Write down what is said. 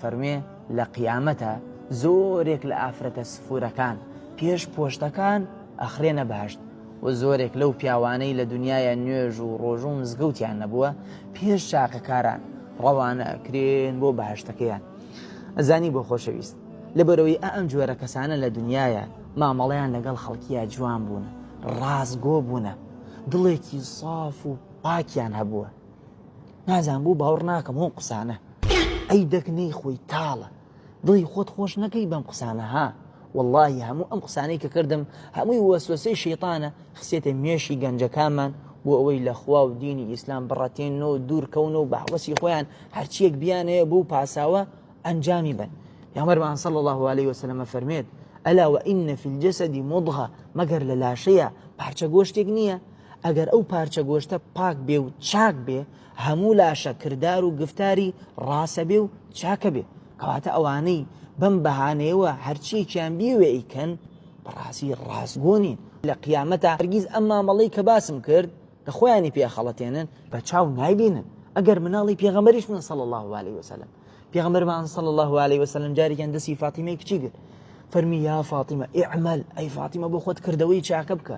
فەرموێ لە قیامەتا زۆرێک لە ئافرەتە سفورەکان پێش پۆشتەکان ئەخرێنە بەهەشت و زۆرێک لەو پیاوانەی لە دنیاە نوێژ و ڕۆژوو مزگەوتیان نەبووە پێش چاکەکاران ڕەوانە ئەکرێن بۆ بەهشتەکەیان ئەزانی بۆ خۆشەویست لەبەرەوەی ئەم جۆرە کەسانە لە دنیاە مامەڵیان لەگەڵ خەڵکیە جوان بوون ڕاستگۆ بوونە دڵێکی ساف و پاکیان هەبووە نازانم بۆ باوڕ ناکەم ئەو قسانە ئەی دەک نەیخۆی تاڵە دڵی خۆت خۆش نەکەی بەم قسانە ها واللهی هەموو ئەم قسانەی کە کردم هەمووی وەسوەسەی شەیتانە خسێتە مێشی گەنجەکانمان بۆ ئەوەی لە خوا و دینی ئیسلام بڕەتێن و دوورکەون و بەحوەسی خۆیان هەرچیەک بیانەیە بۆ پاساوە ئەنجامی بن یامەرمان سەڵ الله عليه وسلمە فەرمێت ئەلا وئینە فی الجەسەدی مضغە مەگەر لە لاشەیە پارچە گۆشتێک نییە ئەگەر ئەو پارچە گۆشتە پاک بێ و چاک بێ، هەموو لاشە کردار و گفتاری ڕاسە بێ و چاکە بێ، کەواتە ئەوانەی بەم بەهانەیەوە هەرچیەکیان بیەوێ ئەیکەن، بەڕاستی ڕاستگۆ نین، لە قیامەتا هەرگیز ئەم مامەڵەی کە باسم کرد کە خۆیانی پێ ئەخەڵەتێنن، بە چاو نایبینن، ئەگەر مناڵی پێغەمبەریش بن صلی اللە و علیە و سلم، پێغەمبەرمان صلی اللە و علیە و سلم جارێکیان دەستی فاتیمەی کچی گرت فەرمی، یا فاطمە اعمل، ئەی فاتیمە بۆ خۆت کردەوەی چاکە بکە،